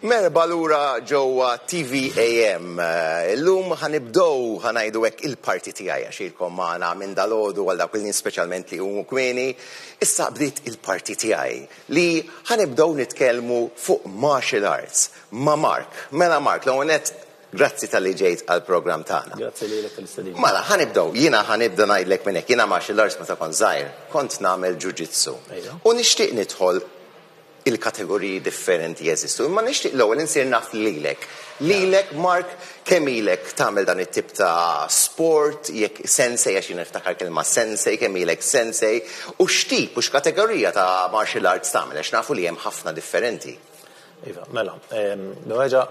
Merba lura ġewwa TVAM. Eh, illum ħanibdow ħanajdu hekk il-parti tiegħi għax ilkom magħna minn dalodu għal dak il-nies speċjalment li huma kmieni. Issa bdiet il-parti tiegħi li ħanibdow nitkellmu fuq martial arts ma' Mark. Mela Mark, l-ewwel Grazzi talli ġejt għall-programm tagħna. Grazzi lilek tal-istedina. Mela, ħa nibdew. Jiena ħa nibda ngħidlek minn hekk. Jiena martial arts meta kont żgħir, kont nagħmel ġuġitsu. Ejja. U nixtieq nidħol il-kategoriji differenti jeżistu. Imma nixtieq l-ewwel insir naf lilek. Lilek, Mark, kemm ilek tagħmel dan it-tip ta' sport, jekk sensei, għax jiena niftakar kelma sensei, kemm ilek sensei, u x'tip u x'kategorija ta' martial arts tagħmel, għax nafu li hemm ħafna differenti. Iva, mela, nerġa'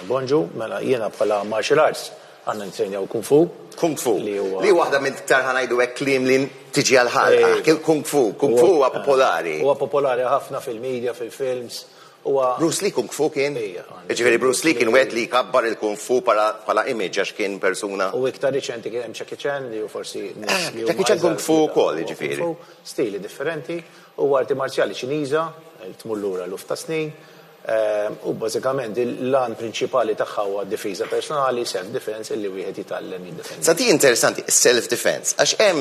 Bonġu, Mela jiena bħala martial arts għandna nittrejnaw kung fu. Kung fu. Li huwa. Li waħda minn iktar ħa ngħidu hekk kliem li tiġi għal ħalqek. Il-kung fu. Kung fu huwa popolari. Huwa popolari ħafna fil-media, fil-films. Huwa. Bruce Lee kung fu kien? Ejja. Jiġifieri Bruce Lee kien wieħed li jkabbar il-kung fu bħala image għax kien persuna. U iktar riċenti kien hemm Jackie Chan li hu forsi. Jackie Chan kung fu wkoll jiġifieri. Kung fu stili differenti. Huwa arti marzjali Ċiniża li tmur lura eluf ta' snin. u bażikament l-għan prinċipali tagħha huwa d-difiża personali, self-defense, illi wieħed jitgħallem jiddefendi. Sa dik interessanti, is-self-defense, għax hemm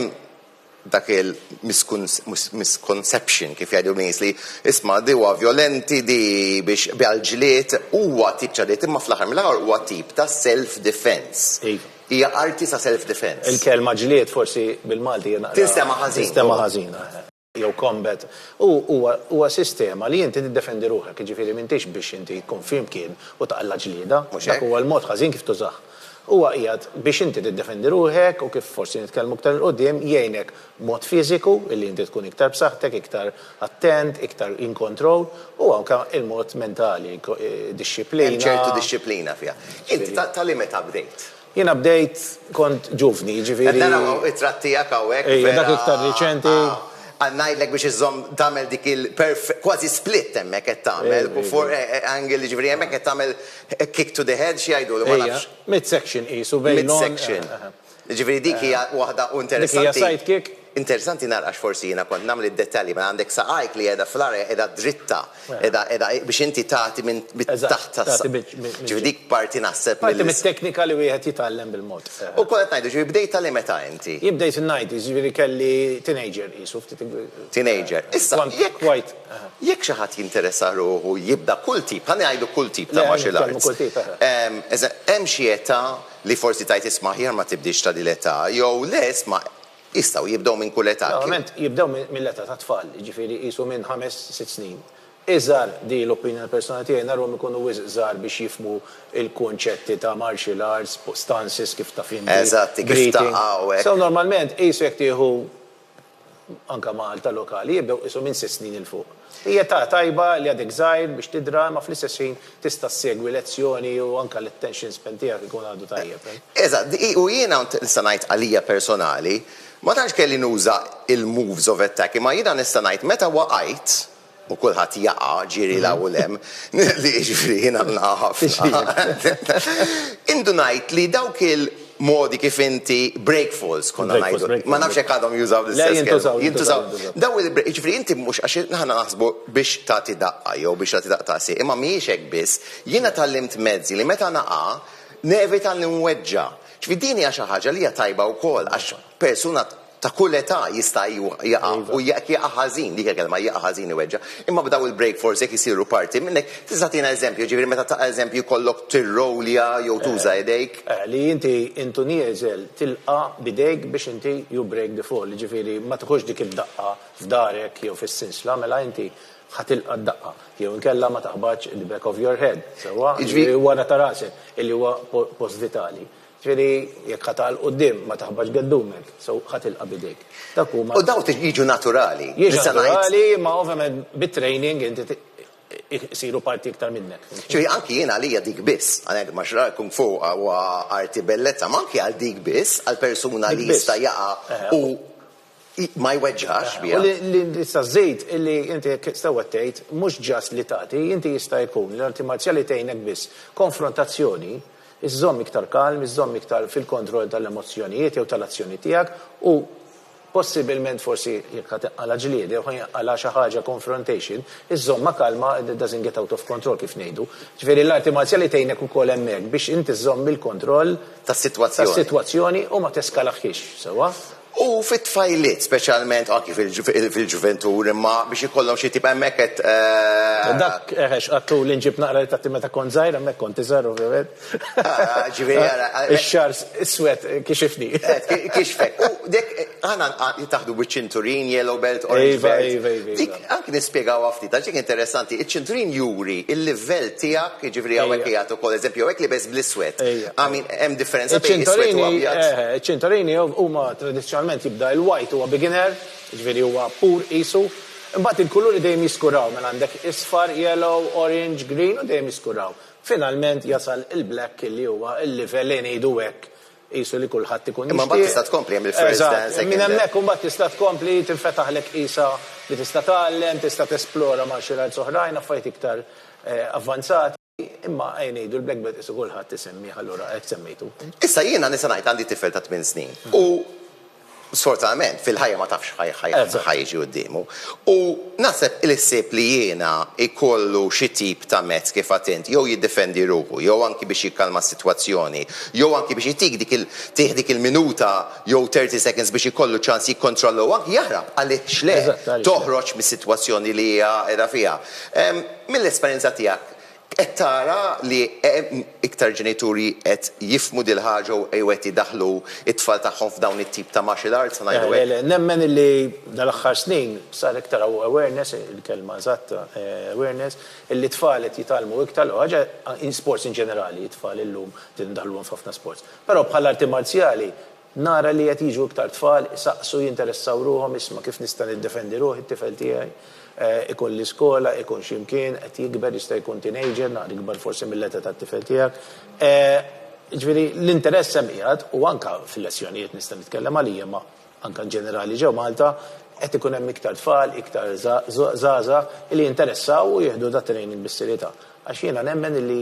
dak il-misconception kif jgħidu n-nies li isma' di huwa vjolenti, di biex biha l-ġlied, huwa tip ta' ġlied imma fl-aħħar mill-aħħar huwa tip ta' self-defense. Iva. Hija arti ta' self-defense. Il-kelma ġlied forsi bil-Malti hija naqra. Tinstema' ħażin. Tinstema' ħażin. jew combat, u huwa huwa sistema li inti tiddefendi ruħek, jiġifieri m'intix biex inti tkun f'imkien u taqla' ġlieda, Mhux hekk? dak huwa l-mod ħażin kif tużah. Huwa qiegħed biex inti tiddefendi ruħek u kif forsi nitkellmu iktar 'il quddiem, jgħinek b'mod fiżiku, illi inti tkun iktar b'saħħtek, iktar attent, iktar in control, u anke il-mod mentali, Hemm dixxiplina. ċertu dixxiplina fiha. Int ta' ta' liema età bdejt? Jiena bdejt kont ġuvni, jiġifieri. Qed nara hawn ittra tiegħek hawnhekk. Ejja, dak iktar riċenti. Aw, ngħidlek biex iżżomm tagħmel dik il perf kważi split hemmhekk qed tagħmel, before e e angle, jiġifieri hemmhekk qed tagħmel kick to the head, x'jgħidulu, ma nafx. Ejja, mid-section qisu bejn l-għonq. Mid-section. Jiġifieri dik hija waħda u interessanti. Dik hija side kick. Interessanti nara għax forsi jiena kont nagħmel id-dettalji, mela għandek saqajk li qiegħda fl-arja qiegħda dritta, qiegħda qiegħda biex inti tagħti minn taħt tas. Ġifieri dik parti naħseb. Parti mit-teknika li wieħed jitgħallem bil-mod. U kont qed ngħidu, ġifieri bdejtha liemeta inti? Jien bdejt in-90s, jiġifieri kelli teenager qisu ftit. Teenager. Issa jekk jekk xi ħadd jinteressa ruħu jibda kull tip, ħalli ngħidu kull tip ta' martial arts. Hemm xi età li forsi tgħid isma' aħjar ma tibdiex ta' din l-età jew le isma' Jistgħu jibdew minn kull età. Normalment jibdew mill-età tat-tfal, jiġifieri qisu minn ħames, sitt snin. Iżgħar, di l-opinjoni personali tiegħi, narhom ikunu wisq żgħar biex jifhmu l-kunċetti ta' martial arts, stances kif taf inti, breathing. Eżatt, kif taqqa' u hekk. So normalment qisu jekk tieħu anke Malta lokali jibdew qisu minn sitt snin 'il fuq. Hi età tajba li għadek żgħir biex tidra imma fl-istess ħin tista' ssegwi lezzjoni u anke l-attention span tiegħek ikun għadu tajjeb. Eżatt, u jiena u nista' ngħid għalija personali, ma tantx kelli nuża il-moves of attack imma jiena nista' ngħid meta waqajt, u kulħadd jaqa' ġieli 'l hawn u 'l hemm, li jiġifieri jiena nilqa' ħafna, indunajt li dawk il. modi kif inti, break falls konna ngħidu. Ma nafx jekk għadhom jużaw l-istess kelma. Jintużaw. Dawn il-break, jiġifieri inti mhux għax aħna naħsbu biex tagħti daqqa jew biex tagħti daqqa ta' għasieq, imma mhijiex hekk biss. Jiena tgħallimt mezzi li meta naqa' nevita li nweġġa'. Jiġifieri din hija xi ħaġa li hija tajba wkoll għax persuna ta' kull età jista' jaqa' u jekk jaqa' ħażin, dik hija l-kelma, jaqa' ħażin iweġġa', imma b'dawn il-break forsi jekk isiru parti minn hekk, tista' tagħtina eżempju, jiġifieri meta taqa' eżempju jkollok tirrowlja jew tuża idejk? Eh, li inti intu nieżel tilqa' b'idejk biex inti you break the fall, jiġifieri ma tiħux dik id-daqqa f'darek jew fis-sinsla, mela inti ħa tilqa' d-daqqa, jew inkella ma taħbatx the back of your head, sewwa, jew wara ta' rasek, illi huwa post vitali. Ġifieri, jekk ħa ta' 'l quddiem, ma taħbax geddumek, so ħa tilqa' b'idejk. Dak huma. U dawn jiġu naturali. Jiġu naturali, imma ovvjament bit-training inti isiru parti iktar minnek. Ġifieri, anki jien għalija dik biss, għalhekk martial art, kung fu huwa arti bellezza, ma anki għal dik biss, għal persuna li jista' jaqa' u. ma jweġġax biha. U li tista' żżid li inti hekk sewwa tgħid, mhux just li tagħti, inti jista' jkun li l-arti marzjali tgħinek biss konfrontazzjoni, iżżomm iktar kalm, iżżomm iktar fil-kontroll tal-emozzjonijiet jew tal-azzjoni tiegħek u possibilment forsi jekk ħa tinqala' ġlieda jew ħa jinqala' xi ħaġa confrontation, iżżommha kalma it doesn't get out of control kif ngħidu. Ġifieri l-arti marzjali tgħinek ukoll hemmhekk biex inti żżomm il-kontroll tas-sitwazzjoni u ma teskalahiex, sewwa? U fit-tfajliet speċjalment, anki fil-ġuventur, imma biex ikollhom xi tip, hemmhekk qed. Dak, eħe, x'qatlu li nġib naqra ritratti meta kont żgħir, hemmhekk kont iżgħar ovvjament. Ġifieri ara. Ix-xagħar iswed kixifni. Kixfek. U dik, aħna taħdu biċ-ċinturin, yellow belt, orange belt. Iva, iva, iva. Anki nispjegawha ftit, għax dik interessanti, iċ-ċinturin juri l-livell tiegħek, jiġifieri hawnhekk qed jagħti wkoll eżempju, hawnhekk libes bl-iswed. Hemm differenza bejn l-iswed u l-abjad? Iċ-ċinturini huma tradizzjonalment jibda l-white huwa beginner, jiġifieri huwa pur qisu, imbagħad il-kuluri dejjem jiskuraw, mela għandek isfar, yellow, orange, green u dejjem jiskuraw. Finalment jasal il-black li huwa l-livell li ngħidu hekk Qisu li kulħadd ikun jixtieq. Imma mbagħad tista' tkompli hemm il-first dan, second dan. Eżatt, minn hemmhekk imbagħad tista' tkompli tinfetaħlek qisha li tista' tgħallem, tista' tesplora martial arts oħrajn, affarijiet iktar avvanzati, imma ejja ngħidu l-black belt qisu kulħadd isemmih allura hekk semmejtu. Issa jiena nista' ngħid għandi tifel ta' tmien snin u Sfortunatament, fil-ħajja ma tafx x'ħa jiġi quddiemu. U naħseb li ħsieb li jiena jkollu xi tip ta' mezz, kif għedt int, jew jiddifendi ruħu, jew anki biex jikkalma s-sitwazzjoni, jew anki biex jtik dik il, tih dik il-minuta jew thirty seconds biex ikollu ċans jikkontrolla u anki jaħrab, għaliex le, toħroġ mis-sitwazzjoni li hija qiegħda fiha. Mill-esperjenza tiegħek, Qed tara li hemm iktar ġenituri qed jifhmu dil-ħaġa u qed idaħħlu t-tfal tagħhom f'dawn it-tip ta' martial arts, se ngħidu hekk? Nemmen illi dal-aħħar snin sar iktar awareness, il-kelma eżatta, awareness, illi t-tfal qed jitgħallmu iktar l-ewwel ħaġa, in sports in ġenerali, t-tfal illum qed indaħħluhom f'ħafna sports. Però bħal arti marzjali, Nara li qed jiġu iktar tfal isaqsu, jinteressaw ruħhom, isma' kif nista' niddefendi ruħi, t-tifel tiegħi ikun l-iskola, ikun xi mkien, qed jikber, jista' jkun teenager, naqra ikbar forsi mill-età tat-tifel tiegħek. Jiġifieri l-interess hemm qiegħed u anke fil-lezzjonijiet nista' nitkellem għalija imma anke in ġenerali ġew Malta qed ikun hemm iktar tfal, iktar żgħażagħ li jinteressaw u jieħdu dat-training bis-serjetà. Għax jiena nemmen illi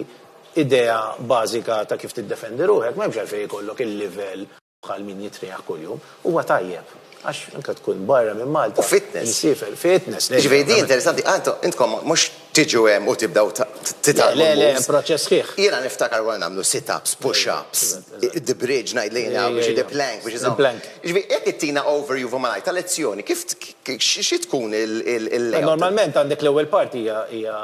idea bażika ta' kif tiddefendi ruħek, m'hemmx għalfejn ikollok il-livell bħal min jitrijaħ kuljum. Huwa tajjeb, għax anke tkun barra minn Malta. U fitness. Imsiefer, fitness. Jiġifieri din interessanti, intkom mhux tiġu hemm u tibdew titgħallmu l-moves. Le, le, hemm proċess sħiħ. Jiena niftakar konna nagħmlu sit-ups, push-ups, the bridge ngħid lejn hawn biex the plank biex iżomm. The plank. Jiġifieri jekk ittina overview fuq malajr tal-lezzjoni, kif xi tkun il-layout? Normalment għandek l-ewwel parti hija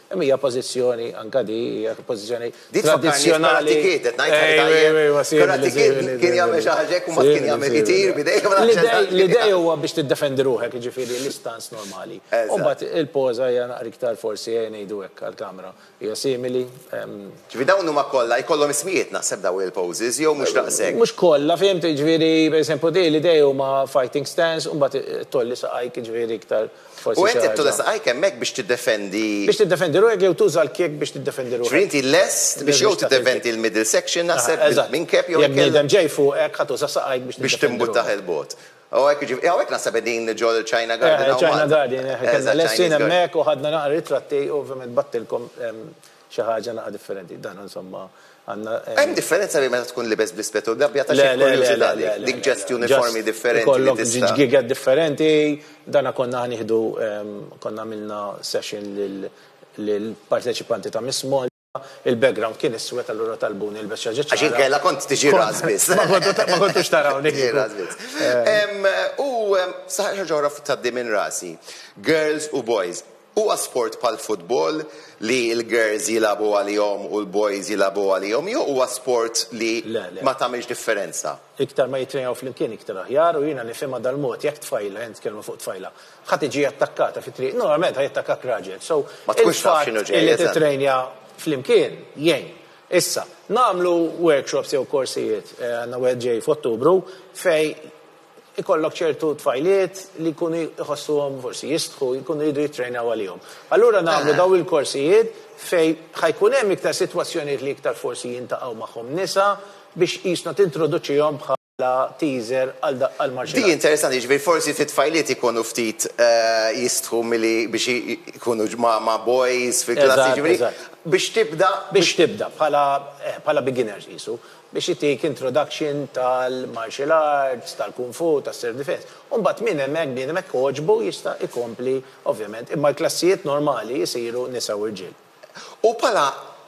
Imma hija pożizzjoni, anke di, hija pożizzjoni tradizzjonali. Di tfakkarni f'Karate Kid, qed ngħid ħaġa tajjeb. Karate Kid kien jagħmel xi ħaġa hekk u mbagħad kien jagħmel ittir b'idejh. L-idea huwa biex tiddefendi ruħek, jiġifieri l-istance normali. U mbagħad il-poża hija naqra iktar forsi, ejja ngħidu hekk għall-kamera, hija simili. Ġifieri dawn huma kollha, jkollhom ismijiet naħseb dawn il-poses jew mhux daqshekk? Mhux kollha, fhimt, jiġifieri, pereżempju di, l-idea huma fighting stance u mbagħad tgħolli saqajk, jiġifieri iktar U int qed tressaq għajk hemmhekk biex tiddefendi. Biex tiddefendi ruħek jew tuża l-kiek biex tiddefendi ruħek. Ġifieri inti lest biex jew tiddefendi l-middle section naħseb minkeb jew inkella. Jekk bniedem ġej fuqek ħa tuża saqajk biex tiddefendi ruħek. Biex timbuttah 'il bogħod. Hawnhekk naħseb qegħdin ġo l-China Garden hawn Malta. China Garden, konna lessin hemmhekk u ħadna naqra ritratti u ovvjament battilkom Xi ħaġa naqa' differenti. Dan insomma għandna. Hemm differenza bejn meta tkun libes bl-ispett u l-gabbja ta' xi kurjużità dik. Dik ġest uniformi differenti. Ikollok ġgiged differenti. Dan konna ħanieħdu konna għamilna session lill-parteċipanti ta' Miss Malta. Il-background kien iswed allura talbuni nilbes xi ħaġa ċara. Għax inkella kont tiġi razz biss. Ma kontux tarawni. Tiġi razz biss. U saħaq xi ħaġa oħra tgħaddi minn rasi. Girls u boys. Huwa sport bħall-futbol li l-girls jilagħbu għalihom u l-boys jilagħbu għalihom jew huwa sport li ma tagħmilx differenza? Iktar ma jittrejnaw flimkien iktar aħjar u jiena nifhimha dal-mod, jekk tfajla, ħa nitkellmu fuq tfajla, ħa tiġi attakkata fit-triq, normalment ħa jattakkak raġel, so il-fatt li tittrejnja flimkien jgħin. Issa, nagħmlu workshops jew korsijiet, għandna wieħed ġej f'Ottubru, fejn ikollok ċertu tfajliet li jkunu jħossuhom forsi jistħu, jkunu jridu jittrejnaw għalihom. Allura nagħmlu dawn il-korsijiet fejn ħajkun hemm iktar sitwazzjonijiet li iktar forsi jintaqgħu magħhom nisa biex qisna tintroduċihom bħala teaser għal għal martial arts. Di interessanti, jiġifieri forsi fit-tfajliet ikunu ftit jistħu milli biex ikunu ma' boys fil-klassi jiġifieri biex tibda. Biex tibda bħala bħala beginners qisu. biex itik introduction tal-martial arts, tal-kung fu, tas-self defense. U mbagħad min hemmhekk, bniedem hekk għoġbu jista' jkompli ovvjament. Imma l-klassijiet normali jsiru nisa u rġiel. U bħala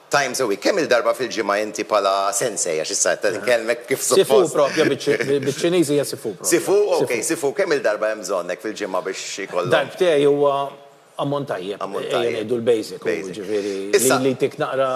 times a week, kemm-il darba fil-ġimgħa inti bħala sensei, għax issa qed inkellmek kif suppost. Sifu propja biċ-Ċiniż hija sifu propja. Sifu, ok, sifu, kemm-il darba hemm bżonnk fil-ġimgħa biex ikollok. Darbtej huwa. Ammont tajjeb. Ammont tajjeb. Ejja ngħidu l-basic. Basic. Jiġifieri Issa. li jtik naqra.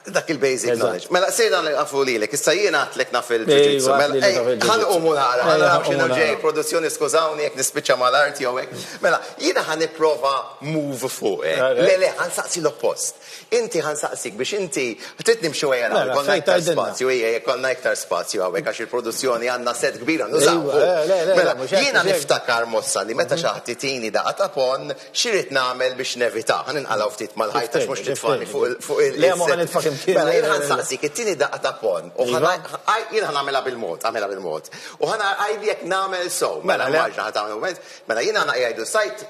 Dak il-basic knowledge. Eżatt. Mela sejna nilqfu lilek. Issa jien għedtlek naf il-ġuġitsu. Ejwa, għedtli li taf il-ġuġitsu. Mela, ejja, ħa nqumu nara. Ejja, ħa nqumu nara. Ħa naraw x'inhu ġej, produzzjoni skużawni jekk nispiċċa mal-art jew hekk. Mela, jiena ħa nipprova move fuq, eh. Le, le, ħa nsaqsi l-oppost. Inti ħa nsaqsik biex inti, trid nimxu ejja naraw jekk ikollna iktar spazju, ejja jekk ikollna iktar spazju hawnhekk għax il-produzzjoni għandna set kbir għandu żgħuhu. Mela, jiena niftakar mossa li meta xi ħadd itini daqqa ta' ponn, x'irid nagħmel biex nevitah? Ħa ninqalgħu ftit mal-ħajt għax mhux titfagħni fuq il-. Le, ma ħa nitfagħek imkien. Mela, jien ħa nsaqsik, ittini daqqa ta' ponn u ħa jien ħa nagħmilha bil-mod, agħmilha bil-mod. U ħa ngħid jekk nagħmel sew. Mela, l-immaġna ħa tagħmel mument. Mela, jiena ħa ngħid jgħidu s-sajd.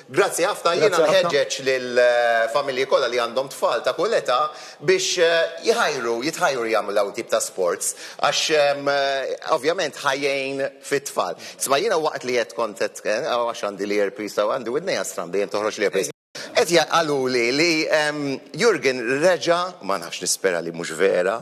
Grazzi ħafna, jiena nħeġġeġ lill-familji kollha li għandhom tfal ta' kull età biex jħajru, jitħajru jagħmlu dawn it-tip ta' sports għax ovvjament ħa jgħin fit-tfal. Isma' jiena waqt li qed kont qed, aw għax għandi l-earpiece hawn, għandi widnejja strambi jien toħroġ l-earpiece, qed qaluli li Jurgen reġa', ma nafx nispera li mhux vera,